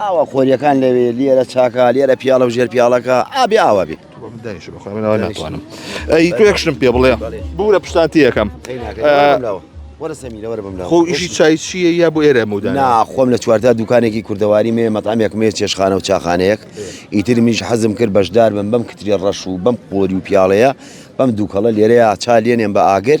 ئاوا خۆریەکان لەوێ لێرە چاکە لێرە پیاڵە و ژێر پیاڵەکە ئابێ ئاوا بێت ناتوانم ئەی توێکشتم پێ بڵێ بورە پشتانتی یەکەم خۆ ئیشی چای چیە یا بۆ ئێرە مودا ناخۆم لە چوارتا دوکانێکی کوردەواری مێ مەتامێک مێ چێشخانە و چاخانەیەک ئیتر میش حەزم کرد بەشدار بم بەم کتری ڕەش و بەم قۆری و پیاڵەیە بەم دووکەڵە لێرەیە چا لێنێن بە ئاگر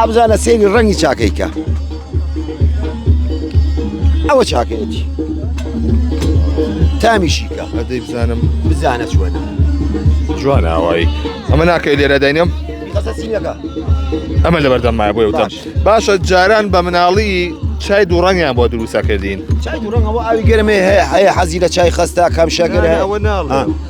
ئەبزانە سێری ڕەنگی چاکەیکە ئەوە چاکەیەتی تامیشیکە ئەدەی بزانم بزانە چوەنە جوان ئاوایی ئەمە ناکەی لێرە دەینم ئەمە لە بەردەم مای بۆی وتم باشە جاران بە مناڵی چای دوو ڕەنگیان بۆ دروستە کردین چای دوو ڕەنگەوە ئاوی گەرمێ هەیە هەیە حەزی لە چای خستە کەم شەکر ئەوە ناڵ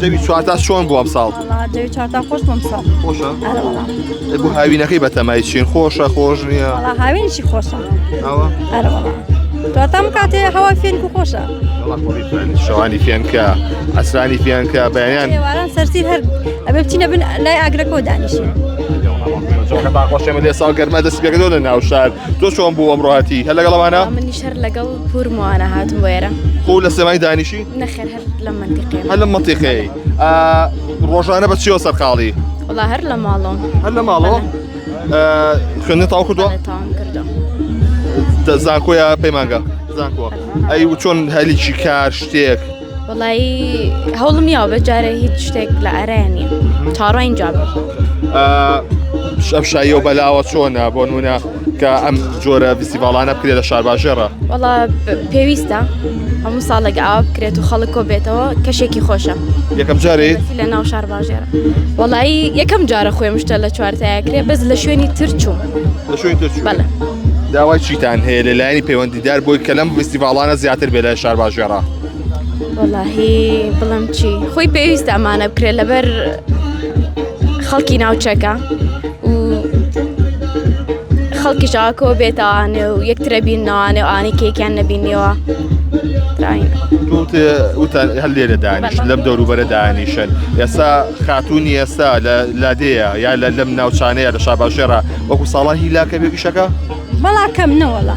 زەوی چوارتا چۆن بوو ئەم ساڵ زەوی چارتا خۆش بۆم ساڵ خۆشە بۆ هاوینەکەی بەتەمای چین خۆشە خۆش نییە هاوینشی خۆشە تۆتەم کاتێ هەوا فێنک و خۆشە شەوانی فێنکە ئەسرانی فێنکە بەیان سەرسی هەر ئەبێ بچینە بن لای ئاگرەکەەوە دانیشن. خۆشێمە لێ ساڵ گەرمە دەست پێکەوە لە ناو شار تۆ چۆن بوو ئەمڕاتی هەر لەگەڵمانە منی شەر لەگەڵ پورمانە هاتم وێرە خۆ لە سێمای دانیشی نەخێر لەم منتیقەیە هەر لەم منتیقەیە ئا، ڕۆژانە بە چیەوە سەرقاڵی وڵا هەر لە ماڵۆم هەر لە ماڵەوە ئا، خوێندن تاو کردووە تاوام کردو دە- زانکۆیە پەیمانگە زانکۆ ئەی و چۆن هەلیکی کار شتێک وڵی هەوڵم نییە بە جارە هیچ شتێک لە ئەرەیە نیە چاڕۆ ئینجا بم ئا، ئەم شاییەوە بەلاوە چۆنە بۆ نمونە کە ئەم جۆرە فیسیڤاڵانە بکرێت لە شارباژێڕە وڵا پێویستە هەموو ساڵێک ئاوا بکرێت و خەڵک کۆ بێتەوە کەشێکی خۆشە یەکەم جارێ لە ناو شارباژێرە وڵایی یەکەم جارە خۆێ مشتە لە چوارتایەکرێ بەس لە شوێنی ترچوو لە شوێن ترچوو بەڵێ داوای چیتان هەیە لەلایەنی پەیوەندیدار بۆی کە لەم فیسیڤاڵانە زیاتر بێ لە شارباژێڕە وەڵاهی بڵم چی خۆی پێویستە ئەمانە بکرێت لەبەر خەڵکی ناوچەکە و خەڵکی شاکۆ بێتانێ و یەکترە بینناوانێ و ئانی کێکیان نەبینیەوە وتان هەر لێرە دانیش لەم دەوروبەرە دانیشن ئێستا خاتونی ئێستا لە لادەیە یا لە لەم ناوچانەیە لە شاباشێرا وەکو ساڵاهی لاکە بێ پیشەکە بەڵا کەم نەوەڵە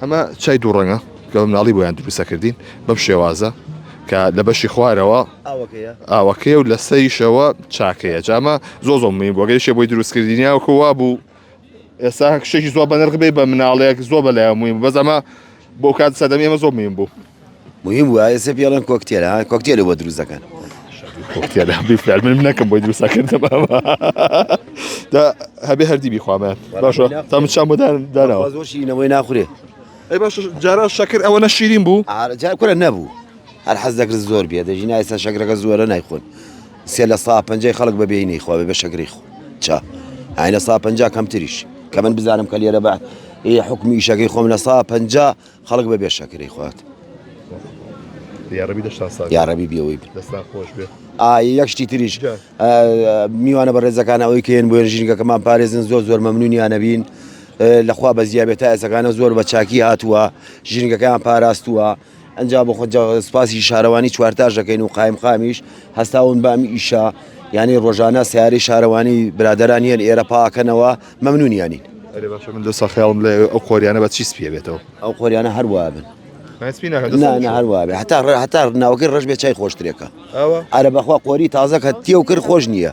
ئەمە چای دوو ڕەنگە کە بە مناڵی بۆیان دروستە کردین بەم شێوازە کە لە بەشی خوارەوە ئاوەکەیە و لەسەریشەوە چاکەیە جامە زۆ زۆ من بۆگەیشێ بۆی دروستکردنیاوکە وا بوو ئێستا شتێکی زۆر بەنرخ بێ بە مناڵێک زۆر بە لایەن موین بەس ئەمە بۆ کات سەدەمی ئمە زۆر مین بوو موهیم وە ئێسە پێ ئەڵێن کۆکتێل ها کۆکتێلە بۆ دروست دەکەن کۆکتێل ها بیفلال من نەکەم بۆی دروست دەکەن دا هەبێ هەردی بیخوامە باشە تا من چام بۆ داناوە زۆر شیرینەوەی ناخورێ ئەی باش جارا شەکر ئەوە نە شیرین بوو جار کورە نەبوو هەر حەز دەکرد زۆر بێ دەژی نایسا شەکرەکە زۆرە نایخۆن سێ لە سا پنجەی خەڵک بە بێینەی خۆێ بە شەکری خۆ چا ئاینە سا پنج کەمتریش کە من بزانم کە لێرە بە ئێ حکومی شەکەی خۆم لە سا پنج خەڵک بەبێ شەکرەی خوات. یاڕەبی دەشتان ساغ یاڕەبی بیەوەی دەستان خۆش بێ یەک شتی تریش میوانە بە ڕێزەکان ئەوەی کەێن بۆ ژینگەکەمان پارێزن زۆر زۆر مەمنونیان نەبین لەخوا بە زیابێت تا ئێسەکانە زۆر بە چاکی هاتووە ژینگەکەیان پاراستووە ئەجا بۆ خۆ سپاسی شارەوانی چوارتاش دەکەین و قایم خامیش هەستاون بامی ئیشە یعنی ڕۆژانە سیاری شارەوانی برادران یەن ئێرە پاکەنەوە مەمنونیانین. ئەرێ باشە من دەسا خەیاڵم لە ئەو قۆریانە بە چی سپیە بێتەوە ئەو قۆریانە هەر وابن هەر وابێ هەتا ڕێ هەتا ناوەکەی ڕژ بێ چای خۆشترێکە ئەرە بەخوا قۆری تازە کە تێ و کرد خۆش نییە.